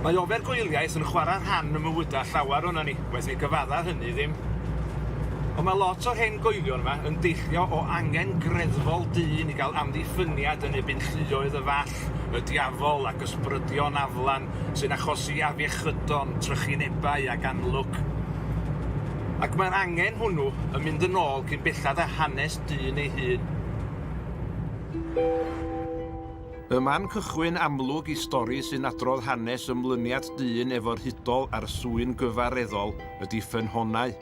Mae ofergoeliaeth yn chwarae rhan ym mywydau llawer o'na ni, waeth ei gyfadda hynny ddim. Ond mae lot o'r hen goelion yma yn deillio o angen greddfol dyn i gael amddiffyniad yn ebyn lluoedd y fall. Ffrainc, y Diafol ac ysbrydion aflan sy'n achosi afiechydon, trychinebau ac anlwc. Ac mae'r angen hwnnw yn mynd yn ôl cyn belled â hanes dyn ei hun. Y man cychwyn amlwg i stori sy'n adrodd hanes ymlyniad dyn efo'r hudol a'r swyn gyfareddol ydi ffynhonnau.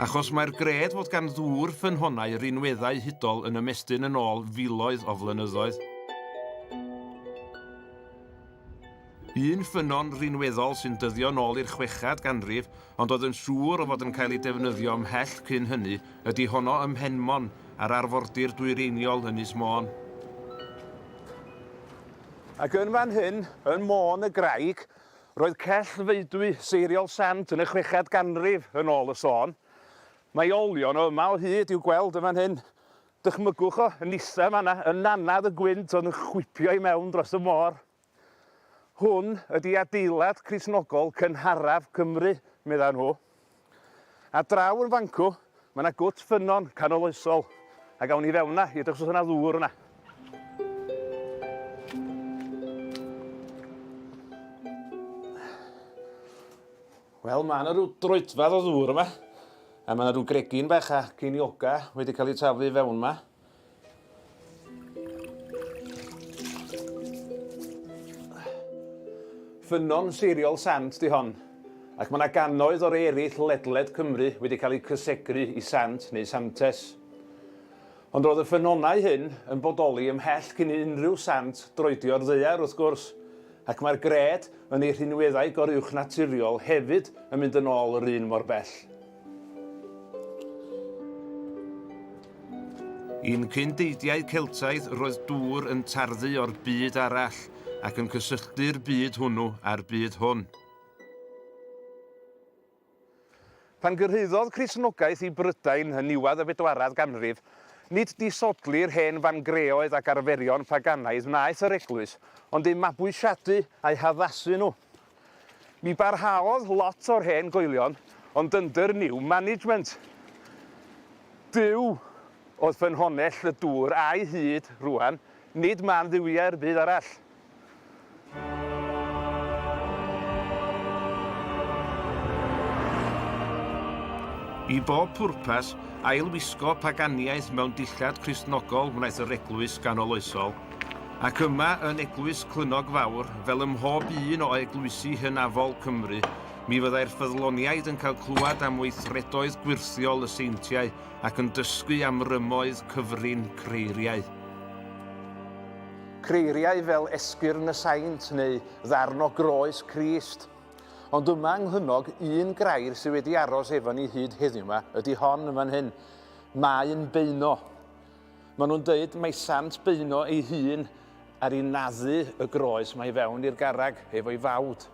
Achos mae'r gred fod gan ddŵr ffynhonnau rinweddau hudol yn ymestyn yn ôl filoedd o flynyddoedd. Un ffynnon rinweddol sy'n dyddio yn ôl i'r chwechad ganrif, ond oedd yn siŵr o fod yn cael ei defnyddio ymhell cyn hynny, ydy honno ym Mhenmon, ar arfordir dwyreiniol Ynys Môn. Ac yn fan hyn, yn Môn y Graig, Roedd cell faedwy seiriol Sant yn y chweched ganrif yn ôl y sôn. Mae olion o yma o hyd i'w gweld yn fan hyn. Dychmygwch o, yn isa yn fan'na, y nannedd y gwynt oedd yn chwipio i mewn dros y môr. Hwn ydi adeilad Cristnogol cynharaf Cymru, medda nhw. Ar draw yn fancw, mae yna gwt ffynnon canoloesol, ac awn ni i fewn yna i edrych os oes yna ddŵr yna. Wel, mae yna rhyw droedfedd o ddŵr yma, a mae yna rhyw gregyn bach a ceiniogau wedi cael eu taflu i fewn yma. Ffynnon seiriol sant 'di hon, ac mae 'na gannoedd o rei eraill ledled Cymru wedi cael eu cysegru i sant neu santes. Ond roedd y ffynonnau hyn yn bodoli ymhell cyn i unrhyw sant droedio'r ddaear wrth gwrs, ac mae'r gred yn ei rhinweddau goruwchnaturiol hefyd yn mynd yn ôl yr un mor bell. Yn cyn deidiau Celtaidd roedd dŵr yn tarddu o'r byd arall ac yn cysylltu'r byd hwnnw â'r byd hwn. Pan gyrhaeddodd Cristnogaeth i Brydain yn niwedd y bedwaredd ganrif, nid disodli'r hen fangreoedd ac arferion paganaidd wnaeth yr Eglwys, ond eu mabwysiadu a'u haddasu nhw. Mi barhaodd lot o'r hen goelion ond under new management. Duw oedd ffynhonnell y dŵr a'i hyd rwan, nid man dduwiau'r byd arall. I bob pwrpas, ail-wisgo paganiaeth mewn dillad Cristnogol wnaeth yr Eglwys ganoloesol. Ac yma yn Eglwys Clunog Fawr, fel ym mhob un o eglwysi hynafol Cymru, mi fyddai'r ffyddloniaid yn cael clywed am weithredoedd gwyrthiol y seintiau ac yn dysgu am rymoedd cyfrin creiriau. Creiriau fel esgyrn y saint neu ddarn o groes Crist. Ond yma yng Nghlynnog, un grair sydd wedi aros efo ni hyd heddiw 'ma ydy hon yn fan hyn. Maen beuno. Maen nhw'n dweud mai sant Beino ei hun ar i naddu y groes mae i fewn i'r garreg efo'i fawd.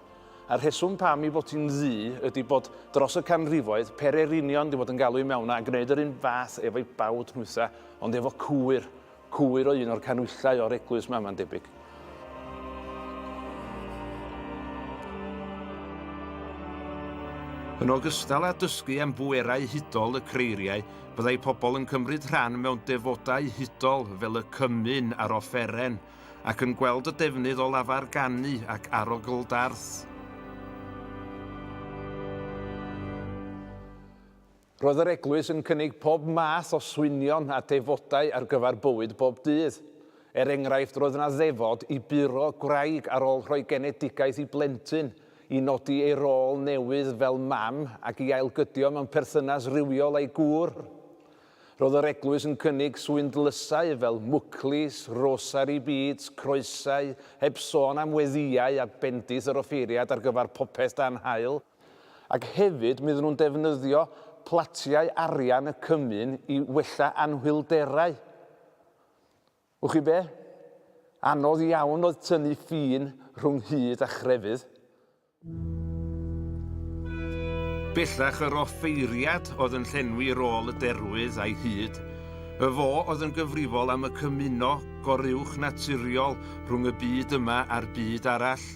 A'r rheswm pam i fod hi'n ddu ydy bod dros y canrifoedd pererinion wedi bod yn galw i mewn yna a gwneud yr un fath efo'i bawd nhwytha ond efo cwyr, cwyr o un o'r canwyllau o'r eglwys 'ma mae'n debyg. Yn ogystal â dysgu am bwerau hudol y creiriau, byddai pobl yn cymryd rhan mewn defodau hudol fel y cymyn a'r offeren, ac yn gweld y defnydd o lafar ganu ac arogl-darth. Roedd yr eglwys yn cynnig pob math o swynion a defodau ar gyfer bywyd bob dydd. Er enghraifft, roedd yna ddefod i buro gwraig ar ôl rhoi genedigaeth i blentyn, i nodi ei rôl newydd fel mam ac i ailgydio mewn perthynas rhywiol â'i gŵr. Roedd yr eglwys yn cynnig swyndlysau fel mwclis, rosari bîds, croesau, heb sôn am weddïau a bendith yr offeiriad ar gyfer popeth dan haul. Ac hefyd, mi oedden nhw'n defnyddio platiau arian y cymun i wella anhwylderau. Wch chi be? Anodd iawn oedd tynnu ffin rhwng hud a chrefydd. Bellach yr offeiriad oedd yn llenwi rôl y derwydd a'i hud. Y fo oedd yn gyfrifol am y cymuno goruwchnaturiol rhwng y byd yma a'r byd arall.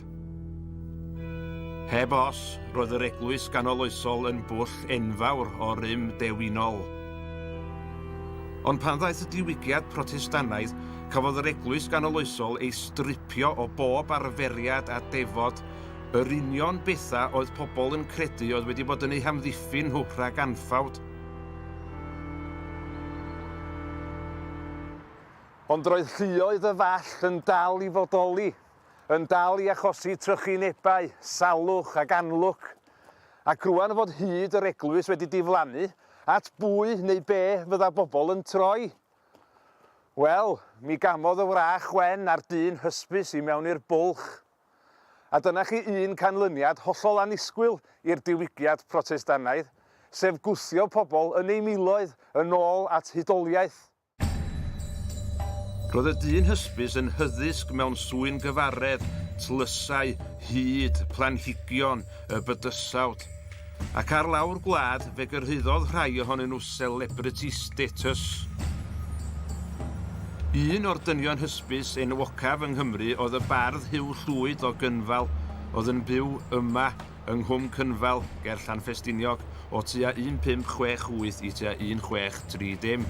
Heb os, roedd yr eglwys ganoloesol yn bwll enfawr o rym dewinol. Ond pan ddaeth y Diwygiad Protestannaidd, cafodd yr eglwys ganoloesol ei stripio o bob arferiad a defod, yr union bethau oedd pobl yn credu oedd wedi bod yn eu hamddiffyn nhw rhag anffawd. Ond roedd lluoedd y Fall yn dal i fodoli. yn dal i achosi trychinebau, salwch ac anlwc, ac rŵan fod hyd yr eglwys wedi diflannu, at bwy neu be fydda bobl yn troi? Wel, mi gamodd y wrach wen a'r dyn hysbys i mewn i'r bwlch. A dyna chi un canlyniad hollol annisgwyl i'r diwygiad Protestannaidd, sef gwthio pobl yn eu miloedd yn ôl at hudoliaeth. Roedd y dyn hysbys yn hyddysg mewn swyn gyfaredd, tlysau, hud, planhigion, y bydysawd. Ac ar lawr gwlad, fe gyrhaeddodd rhai ohonyn nhw celebrity status. Un o'r dynion hysbys enwocaf yng Nghymru oedd y bardd Huw Llwyd o Gynfal, oedd yn byw yma yng Nghwm Cynfal ger Llanffestiniog o tua 1568 i tua 1630.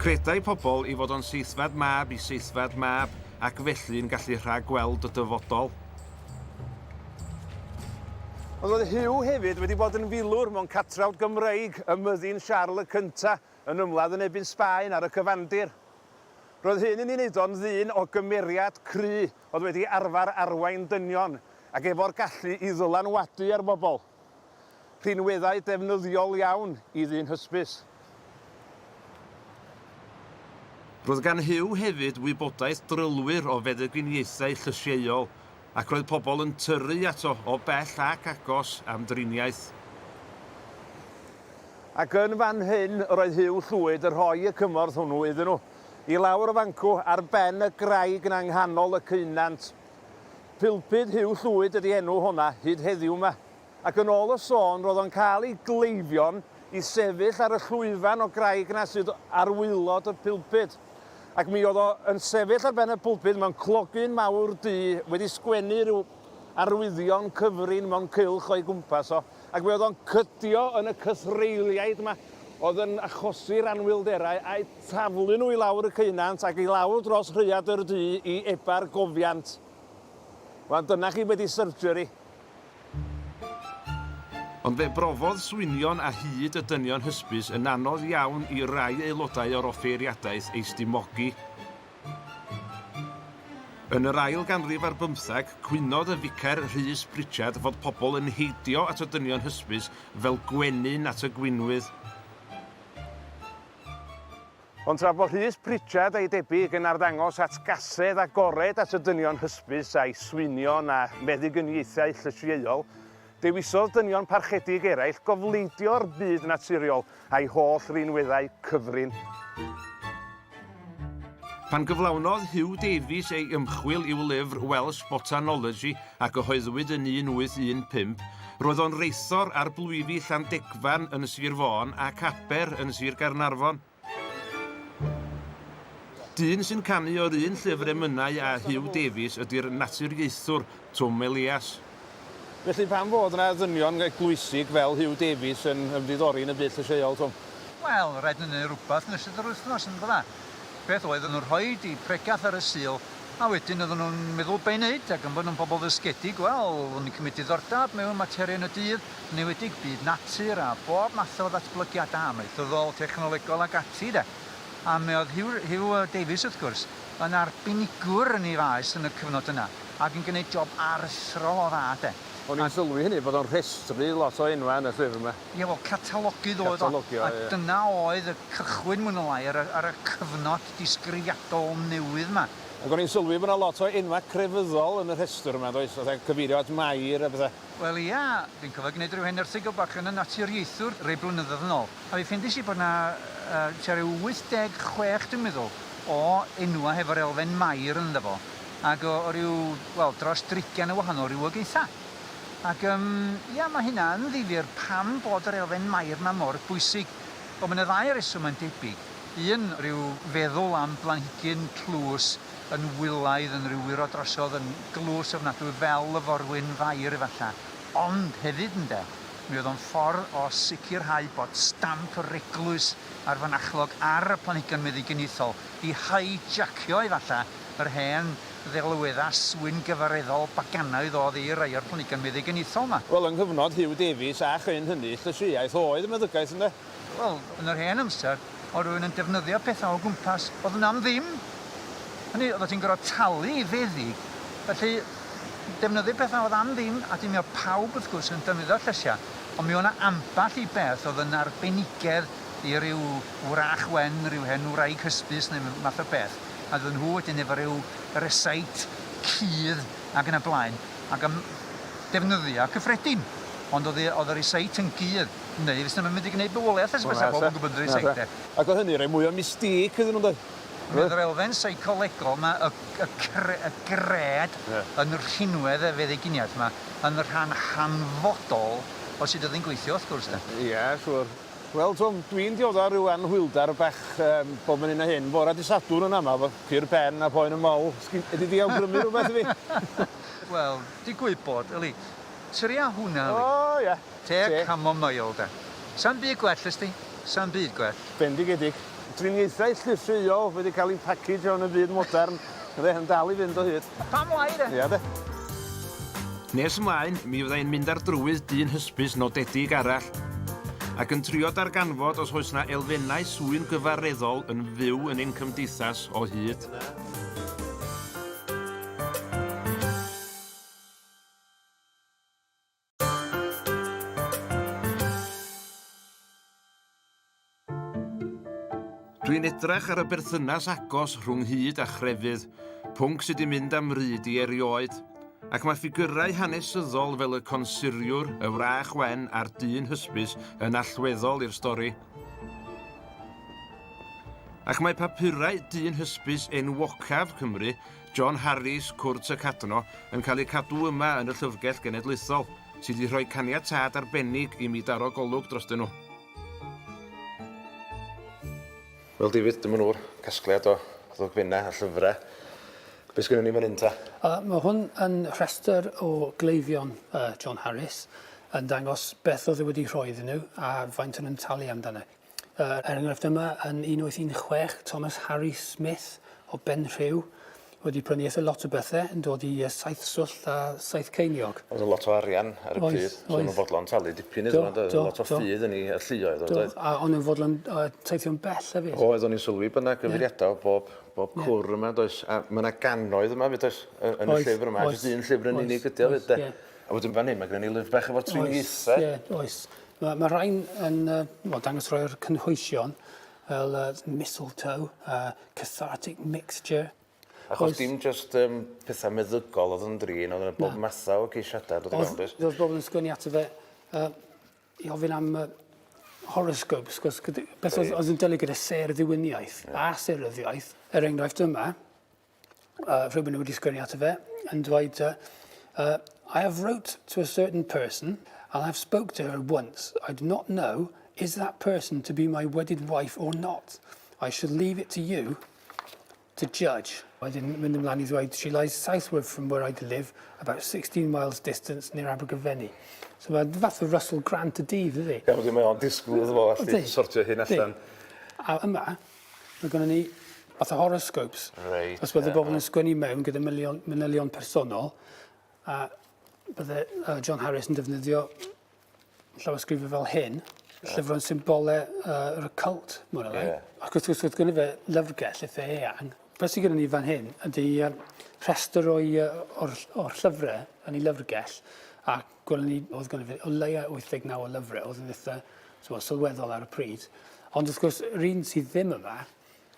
Credai pobl ei fod o'n seithfed mab i seithfed mab ac felly yn gallu rhag-gweld y dyfodol. Ond oedd Hugh hefyd wedi bod yn filwr mewn catrawd Gymreig ym myddin Siarl y Cyntaf yn ymladd yn ebyn Sbaen ar y cyfandir. Roedd hyn yn ei wneud o'n ddyn o gymeriad cry oedd wedi arfer arwain dynion ac efo'r gallu i ddylanwadu ar bobl. Rhinweddau defnyddiol iawn i ddyn hysbys. Roedd gan Huw hefyd wybodaeth drylwyr o feddyginiaethau llysieuol ac roedd pobl yn tyrru ato o bell ac agos am driniaeth. Ac yn fan hyn yr oedd Huw Llwyd yn rhoi y cymorth hwnnw iddyn nhw. i lawr y fancw ar ben y graig 'na ynghanol y ceunant. Pulpud Huw Llwyd ydi enw honna hyd heddiw 'ma. Ac yn ôl y sôn ro'dd o'n ca'l i gleifion i sefyll ar y llwyfan o graig 'na sydd ar waelod y pulpud. Ac mi o'dd o yn sefyll ar ben y pulpud mewn clogy'n mawr du wedi sgwennu ryw arwyddion cyfrin mewn cylch o'i gwmpas o. ac fe oedd o'n cydio yn y cythreiliaid yma oedd yn achosi'r anwylderau a'u taflu nhw i lawr y ceunant ac i lawr dros rhaeadr du i eba'r gofiant. Wel, dyna chi wedi surgery. Ond fe brofodd swynion a hyd y dynion hysbys yn anodd iawn i rai aelodau o'r offeiriadaeth ei stummogi, Yn yr ail ganrif ar bymtheg, cwynodd y ficer Rhys Pritchard fod pobl yn heidio at y dynion hysbys fel gwenyn at y gwinwydd. Ond tra bod Rhys Pritchard a'i debyg yn arddangos atgasedd agored at y dynion hysbys a'u swynion a meddygyniaethau llysieuol, Dewisodd dynion parchedig eraill gofleidio'r byd naturiol a'i holl rinweddau cyfrin. Pan gyflawnodd Huw Davies ei ymchwil i'w lyfr Welsh Botanology a gyhoeddwyd yn 1815, roedd o'n reithor ar blwyfi Llandegfan yn Sir Fôn ac Aber yn Sir Gaernarfon. Dyn sy'n canu o'r un llyfr emynau â Huw Davies ydi'r naturiaethwr Twm Elias. Felly pam fod 'na ddynion eglwysig fel Huw Davies yn ymddiddori yn y byd llysieuol, Twm? Wel, rhaid i ni wneud rhywbeth yn ystod yr wythnos, yn dda? Beth oeddwn nhw'n rhoi i pregeth ar y Sul A wedyn oedden nhw'n meddwl be' i wneud ac am bod nhw'n bobl ddysgedig, wel, oedden nhw'n cymryd diddordeb mewn materion y dydd, yn enwedig byd natur a bob math o ddatblygiadau amaethyddol, technolegol ac ati de. A mi oedd Hugh, Hugh Davies, wrth gwrs, yn arbenigwr yn ei faes yn y cyfnod yna ac yn gwneud job aruthrol o dda de. O'n i'n sylwi hynny, bod o'n rhestru lot o enwau yn y llyfr 'ma. Ie, wel, catalogydd oedd o. Catalogydd, ie. A dyna oedd y cychwyn, mwy neu lai, ar y, ar y cyfnod disgrifiadol newydd 'ma. Ac o'n i'n sylwi bo' 'na lot o enwa' crefyddol yn y rhestr yma, does, fatha cyfeirio at Mair a petha'. Wel ia, dwi'n cofio gneud ryw hen erthygl bach yn y Naturiaethwr rei blynyddoedd yn ôl, a fi ffeindies i bo' 'na yy tua ryw 86, dwi'n meddwl, o enwa' hefo'r elfen Mair ynddo fo, ac o o ryw, wel, dros drigian o wahanol rywogaetha'. Ac yym, ia, ma' hynna yn ddifyr pam bod yr elfen Mair 'ma mor bwysig. Wel, ma' 'na ddau reswm mae'n debyg. Un, rhyw feddwl am blanhigyn tlws yn wylaidd, yn ryw wyro drosodd, yn glws ofnadwy fel y forwyn fair efalla. Ond hefyd, ynde, mi oedd o'n ffordd o sicrhau bod stamp yr eglwys a'r fynachlog ar y planhigion meddyginiaethol, i haijacio efalla yr hen ddelweddau swyn-gyfareddol baganaidd oedd i rai o'r planhigion meddyginiaethol 'ma. Wel, yng nghyfnod Huw Davies a chryn hynny, llysieuaeth oedd y meddygaeth, ynde? Wel, yn yr hen amser, oedd rhywun yn defnyddio pethau o gwmpas, oedd yna am ddim. Hynny, oeddet ti'n gorfod talu i feddyg. Felly, defnyddio pethau oedd am ddim, a dim oedd pawb, wrth gwrs, yn defnyddio llysiau. Ond mi oedd yna ambell i beth oedd yn arbenigedd i ryw wrach wen, ryw hen wraig hysbys neu math o beth. A doedden nhw wedyn efo ryw reseit cudd ac yn y blaen, ac yn defnyddio cyffredin. Ond oedd y reseit yn gudd. Neu fysa fe'n mynd i gneud bywoliaeth ers bysa pawb yn gwybod rhai seicde. Ac o hynny rhoi mwy o mystique iddyn nhw yndoedd? Meddwl yr elfen seicolegol ma y y gred yn y rhinwedd y feddyginiaeth ma yn rhan hanfodol o sut oedd hi'n gweithio wrth gwrs de. Ia siŵr. Wel t'wod dwi'n diodda o ryw anhwylder bach yym bob yn hyn a hyn. Fore dy Sadwrn yn ama efo cur pen a phoen yn mol. Sgin ydi di awgrymu rwbeth i fi? Wel digwydd bod yli. Sori a hwnna yli. O ia. Te a chamomail de. Sa'm byd gwell ysdi. Sa'm byd gwell. Bendigedig. Driniaethau llysieuol wedi cael eu packagio yn y byd modern, ynde, yn dal i fynd o hyd. A pam lai de? Ia de. Nes ymlaen, mi fydda i'n mynd ar drywydd dyn hysbys nodedig arall, ac yn trio darganfod os oes 'na elfennau swyn gyfareddol yn fyw yn ein cymdeithas o hyd. Dwi'n edrych ar y berthynas agos rhwng hud a chrefydd, pwnc sydd wedi mynd am ryd i erioed, ac mae ffigyrau hanesyddol fel y consuriwr, y wrach wen a'r dyn hysbys yn allweddol i'r stori. Ac mae papurau dyn hysbys enwocaf Cymru John Harries, Cwrt y Cadno, yn cael eu cadw yma yn y Llyfrgell Genedlaethol, sydd wedi rhoi caniatâd arbennig i mi daro golwg drostyn nhw. Wel David, dyma nhw'r casgliad o ddogfennau a llyfrau. Be sgynnon ni fan hyn ta? Uh, mae hwn yn rhestr o gleifion uh, John Harries yn dangos beth oedd e wedi rhoi iddyn nhw a faint o'n nhw'n talu amdano. Yr enghraifft yma yn 1816, Thomas Harry Smith o Benrhiw wedi prynu eitha lot o bethe yn dod i yy saith swllt a saith ceiniog. O'dd o'n lot o arian ar y pryd. Oedd, oedd. So o'n fodlon talu dipyn iddo fo yndoedd? Do, do. Lot o ffydd yn 'i yy lluoedd o yndoedd? Do, a o'n yn fodlon yy teithio'n bell efyd. Oedd, o'n i'n sylwi bo' 'na gyfeiriada o bob bob cwr yma does? A ma' 'na gannoedd yma 'fyd does? Yy yn y llyfr yma. Oes, oes. Jyst un llyfr yn unig ydi o 'fyd de? Ie. A wedyn fan 'yn ma' gynno ni lyfr bach efo'r triniaethau. Oes, ie, oes. Mae ma rhain yn uh, well, dangos rhai o'r cynhwysion fel uh, mistletoe, uh, cathartic mixture. Achos dim just um, pethau meddygol oedd yn drin, oedd yna bob mathau o ceisiadau dod i mewn. Oedd oedd bobl yn sgwini ato fe uh, i ofyn am uh, horoscopes, cos beth oedd, oedd yn dylu gyda serddywiniaeth yeah. a seryddiaeth. Er enghraifft yma, uh, rhywun nhw wedi sgwennu ato fe, yn dweud, uh, uh, I have wrote to a certain person and I have spoke to her once. I do not know is that person to be my wedded wife or not. I shall leave it to you to judge. I didn't win them Lanny's way. She lies southward from where I live, about 16 miles distance near Abergavenny. So mae'n fath o Russell Grant y dydd, ydy? Iawn, dwi'n meddwl, disgwyl iddo fo allu sortio hyn allan. A yma, Mae gynnon ni fath o horoscopes. Reit. Os bydde bobl yn sgwennu mewn gyda milion, manylion personol, a bydde uh, John Harris yn defnyddio llawysgrifau fel hyn, llyfrau'n symbole uh, yr occult, mor alai. Yeah. Ac wrth gwrs, wrth gwrs, fe lyfrgell eitha eang. Fe sy'n gyda ni fan hyn ydy uh, rhestr o'i, uh, o'r, or llyfrau yn ei lyfrgell, ac Gwelwn ni, oedd gynno fe o leia 89 o lyfre, oedd yn eitha t'mo' sylweddol ar y pryd. Ond wrth gwrs yr un sydd ddim yma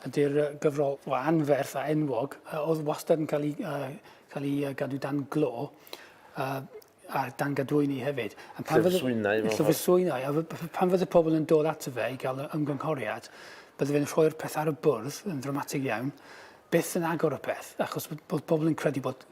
ydy'r yy gyfrol o anferth a enwog yy oedd wastad yn cael 'i yy cael 'i yy gadw dan glo yy a dan gadwyni hefyd. A pan fydde... Llyfrswynau mewn ffordd. Llyfrswynau a f- f- pan fydde pobl yn dod ato fe i ga'l y ymgynghoriad bydde fe'n rhoi'r peth ar y bwrdd yn ddramatig iawn byth yn agor y peth achos bod bod pobl yn credu bod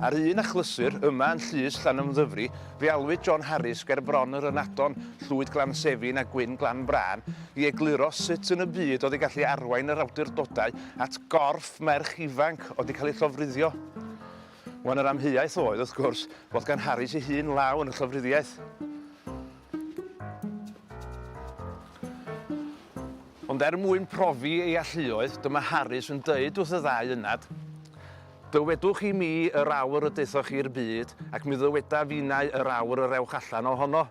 Ar un achlysur, yma yn llys Llanymddyfri, fe alwyd John Harris ger Bron yr Ynadon, Llwyd Glan Sefin a Gwyn Glan Brân, i egluro sut yn y byd oedd i gallu arwain yr awdurdodau at gorff merch ifanc oedd wedi cael ei llofruddio. Wan yr amheuaeth oedd, wrth gwrs, fod gan Harris ei hun law yn y llofruddiaeth. Ond er mwyn profi ei alluoedd, dyma Harris yn dweud wrth y ddau ynad, Dywedwch i mi yr awr y daethoch chi i'r byd, ac mi ddywedaf innau yr awr yr ewch allan o hono.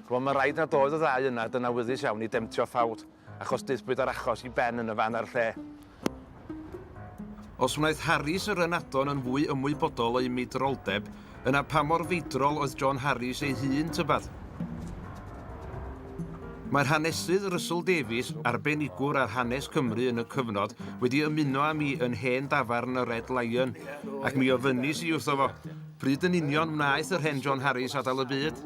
Rwan mae'n rhaid nad oedd y ddau ynad yn awyddus iawn i demtio Ffawd, achos daethpwyd â'r achos i ben yn y fan a'r lle. Os wnaeth Harries yr ynadon yn fwy ymwybodol o'i meidroldeb, yna pa mor feidrol oedd John Harries ei hun, tybed? Mae'r hanesydd Russell Davies, arbenigwr ar hanes Cymru yn y cyfnod, wedi ymuno â mi yn hen dafarn y Red Lion, ac mi ofynis i wrtho fo, pryd yn union wnaeth yr hen John Harries adael y byd?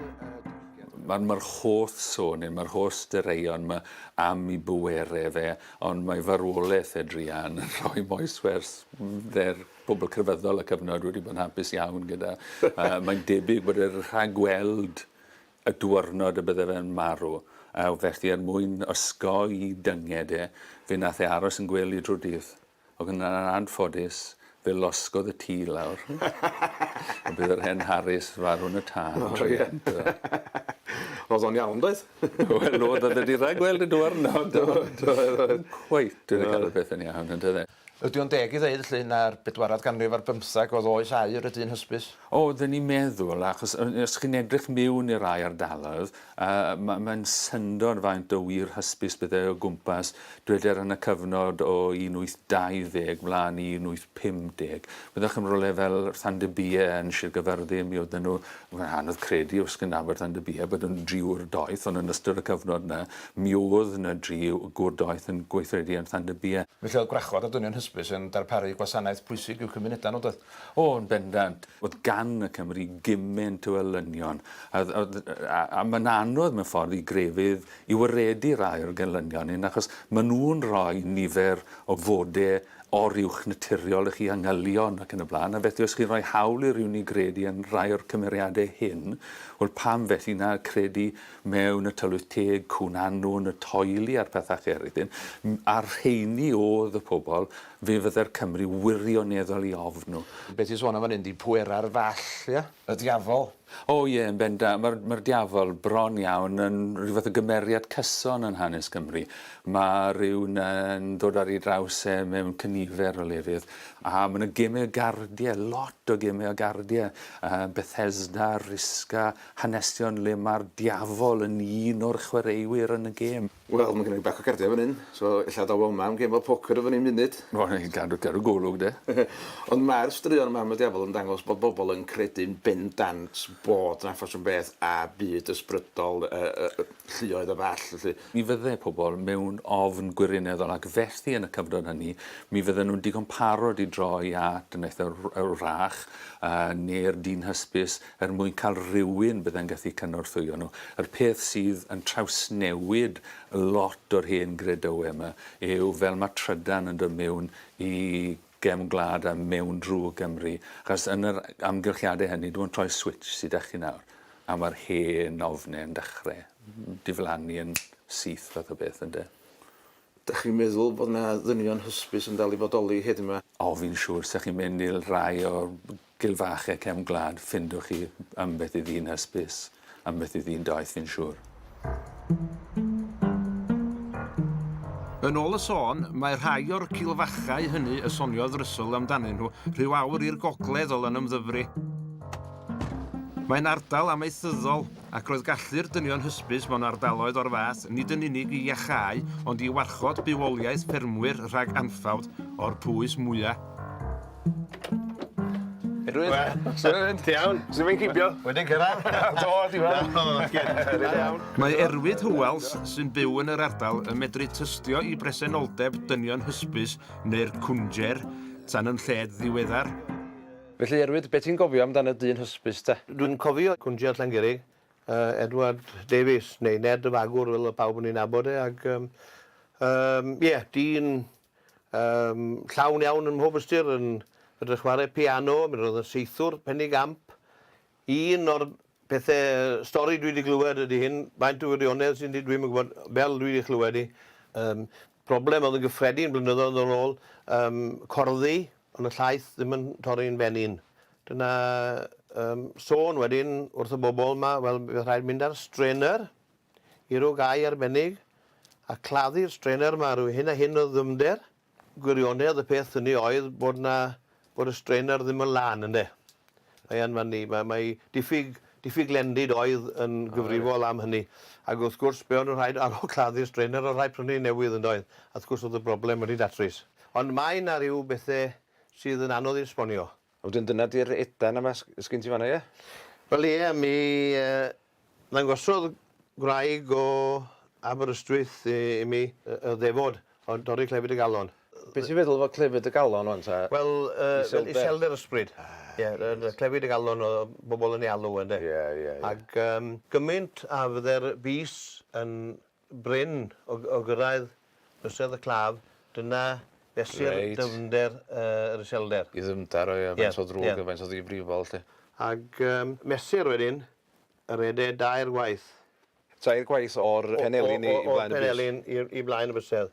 Mae'r holl sôn, neu mae'r holl straeon 'ma am ei bwerau fe, Ond mae farwolaeth Adrian yn rhoi moeswers fer pobl crefyddol y cyfnod wedi bod yn hapus iawn gyda. uh, mae'n debyg bod e'n rhagweld y diwrnod y bydde fe'n marw. A felly er mwyn osgoi dynged e, fe nath e aros yn gwely drwy'r dydd. Ac yn anffodus, fe losgodd y tŷ lawr. A bydd yr hen Harris farw yn y tân. O ie. O'dd o'n iawn doedd? Wel o'dd o'dd e 'di ragweld y dwyrnod do do. Do oedd oedd. Cweit wedi ca'l y peth yn iawn on'd o'dd e? Ydi o'n deg i ddeud felly na'r bedwaredd ganrif ar bymtheg o'dd oes aur y dyn hysbys? O, dyn ni'n meddwl, achos os chi'n edrych miwn i'r rhai ardaloedd, yy mae'n syndod faint o wir hysbys bydde o gwmpas, dweder yn y cyfnod o 1820 flaen i 1850. Meddwch am rywle fel Llandybie yn Sir Gaerfyrddin, mi oedden nhw, mae'n anodd credu os chi'n nabod Llandybie, bod yn driwr doeth, ond yn ystod y cyfnod yna, mi oedd 'na dri gwr doeth yn gweithredu yn Llandybie. Felly oedd gwrachod a dynion hysbys yn darparu gwasanaeth pwysig i'w cymunedau nhw, doedd? O, yn bendant. Oedd gan y Cymry gymaint o elynion, a, a, a, a mae'n anodd mewn ffordd i grefydd i waredu rai o'r gelynion hyn, achos maen nhw'n rhoi nifer o fode oruwch naturiol i chi angylion ac yn y blaen, a felly os chi'n rhoi hawl i rywun i gredu yn rhai o'r cymeriadau hyn, wel pam felly na credu mewn y tylwyth teg, cwn anwn, y toili a'r pethau eraill hyn, a'r rheini oedd y pobl Fe fydde'r Cymry wirioneddol i ofn nhw. Be ti'n sôn am fan hyn 'di pwerau'r Fall, ie? Y Diafol. O ie, yn bendant. Mae'r mae'r Diafol, bron iawn, yn rhyw fath o gymeriad cyson yn hanes Cymru. Mae rhywun yn dod ar ei draws e mewn cynifer o lefydd, a mae yna gemau o gardiau, lot o gemau o gardiau, uh, Bethesda, Risca, hanesion le mae'r Diafol yn un o'r chwaraewyr yn y gêm. Wel ma' gynna fi bac o cardia fan 'yn so ella daw o 'ma am gêm o poker efo ni munud. Wel ie cadw cadw golwg 'de. Ond mae'r straeon Mam a Diafol yn dangos bod bobl yn credu'n bendant bod 'na ffasiwn beth a byd ysbrydol yy yy yy lluoedd a ball felly. Mi fydde pobl mewn ofn gwirineddol ac felly yn y cyfnod hynny mi fydden nhw'n digon parod i droi at dyniaeth y wrach yy neu'r dyn hysbys er mwyn cael rhywun byddai'n gallu cynorthwyo nhw. Yr peth sydd yn trawsnewid lot o'r hen gredoue 'ma yw fel ma' trydan yn dod mewn i gefn gwlad a mewn drw Gymru, achos yn yr amgylchiade hynny, dw i'n troi'r switsh sy 'da chi nawr, a ma'r hen ofne yn dechre diflannu yn syth fath o beth ynde. Dach chi'n meddwl bod 'na ddynion hysbys yn dal i fodoli hyd yma? O fi'n siŵr, 'sa chi'n mynd i'r rhai o'r Gil fach e cefn gwlad ffindiwch chi ambell i ddyn hysbys, ambell i ddyn doeth fi'n siŵr. Yn ôl y sôn, mae rhai o'r cilfachau hynny y soniodd Russell amdanyn nhw rhyw awr i'r gogledd o Lanymddyfri. Mae'n ardal amaethyddol, ac roedd gallu'r dynion hysbys mewn ardaloedd o'r fath nid yn unig i iacháu ond i warchod bywoliaeth ffermwyr rhag anffawd o'r pwys mwya'. Edwin. Wel. Su' mae'n mynd? Ti iawn? Su' mae'n cipio? Wedi cyrradd. Do, ti'n iawn? Do, oce. Ti'n iawn? Mae Erwyd Hywells, sy'n byw yn yr ardal, yn medru tystio i bresenoldeb dynion hysbys neu'r cwnjer tan yn lled ddiweddar. Felly, Erwyd, be' ti'n gofio amdan y dyn hysbys te? Dwi'n cofio cwnjer Llangurig, yy Edward Davies, neu Ned y Fagwr fel o'dd pawb yn ei nabod e, ag yym yym ie, dyn Yn llawn iawn ym mhob ystyr, yn medru chwarae piano, mi roedd yn saethwr Penny Gamp. Un o'r pethe, stori dwi 'di glywed ydi hyn, faint o wirionedd sy'n di- dwi'm yn gwbod, fel dwi 'di chlywed 'i, yym problem o'dd yn gyffredin blynyddoedd yn ôl, yym corddi yn y llaeth ddim yn torri'n fenyn. Dyna yym sôn wedyn wrth y bobol 'ma, wel, bydd rhaid mynd ar strainer. I roi gair arbennig a claddu'r straener ma rwy hyn a hyn o ddyfnder, gwirionedd y peth hynny oedd bod na, bod y straener ddim yn lân ynde. Mae e'n fan ni, mae, mae diffyg, diffyg lendid oedd yn gyfrifol am hynny. Ac wrth gwrs be o'n nhw'n rhaid ar ol claddu'r straener oedd rhaid prynu un newydd yndoedd? A wrth gwrs oedd y broblem wedi datrys. Ond mae na ryw bethe sydd yn anodd i esbonio. A wedyn dyna di'r edan yma s- sgin ti fan 'na ie? Wel ie mi yy ddangosodd gwraig o Aberystwyth i i mi yy y ddefod o dorri clefyd y galon. Yy. Be' ti'n feddwl efo clefyd y galon ŵan ta? Wel yy fel iselder ysbryd. Ah reit. Ie yy yy clefyd y galon o' bobol yn ei alw ynde? Ie ie ie. Ag yym gymint a fydde'r bys yn Brin o o gyrraedd bysedd y claf, dyna fesur... Reit. ...dyfnder yy yr iselder. I ddyfnder o ie faint o ddrwg a faint o ddifrifol 'lly. Ag yym mesur wedyn y rhede dair gwaith. Tair gwaith o'r penelin i i flaen y bys? O'r penelin i'r i flaen y bysedd.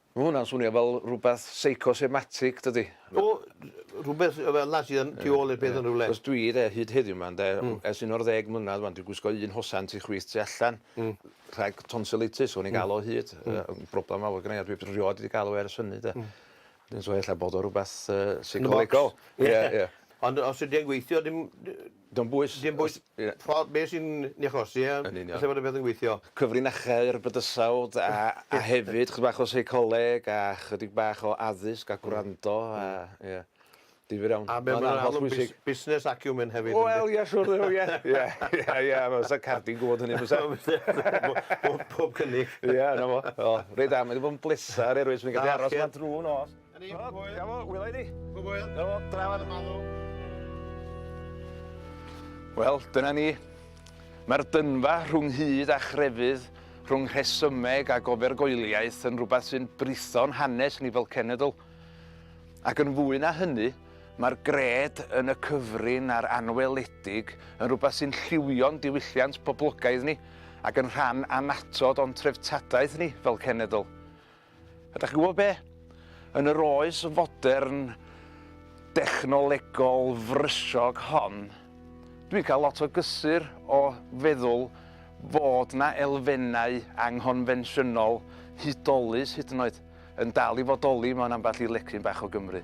Ma' hwnna'n swnio fel rwbeth seicosomatig dydi? O! Rhwbeth yy fel 'na sydd yn tu ôl i'r peth yn rywle. Achos dwi 'de hyd heddiw 'ma ynde w- ers un o'r ddeg mlynadd ŵan dwi'n gwisgo un hosan tu chwith tu allan. Hmm. Rhag tonsilitis o'n i'n ga'l o hyd yy yn broblem mawr gynnai a dwi rioed wedi ga'l o ers hynny 'de. Hmm. Wedyn so ella bod o rwbeth yy seicolegol. Yn y bocs. Ie ie. Ond os ydi e'n gweithio dim dy- Dim bwys. Dim bwys. Ie. Ffordd be' sy'n 'i achosi a... Yn union. ...falle bod y peth yn gweithio. Cyfrinachau'r bydysawd a a hefyd chydig bach o seicoleg a chydig bach o addysg a gwrando a ie. Difyr iawn. A be' ma'n holl bwysig... Busnes acumen hefyd ynde? Wel ie siŵr o ie. Ie ie ie a fysa Cardi'n gwbod hynny bysa? Bob bob cynnig. Ie 'na fo. O reit da mae 'di bod yn bleser erioed swn i'n gallu aros 'ma drw nos. A ni, pob hwyl. Iawn, wylai di. Pob hwyl. Iawn, drafod. Wel, dyna ni. Mae'r dynfa rhwng hyd a chrefydd, rhwng rhesymeg a gofergoeliaeth yn rhywbeth sy'n britho'n hanes ni fel cenedl. Ac yn fwy na hynny, mae'r gred yn y cyfrin a'r anweledig yn rhywbeth sy'n lliwio'n diwylliant poblogaidd ni ac yn rhan anatod o'n treftadaeth ni fel cenedl. A dach chi'n gwybod be? Yn yr oes fodern dechnolegol frysog hon, dwi'n cael lot o gysur o feddwl fod 'na elfennau anghonfensiynol, hudolus hyd yn oed, yn dal i fodoli mewn ambell i lecyn bach o Gymru.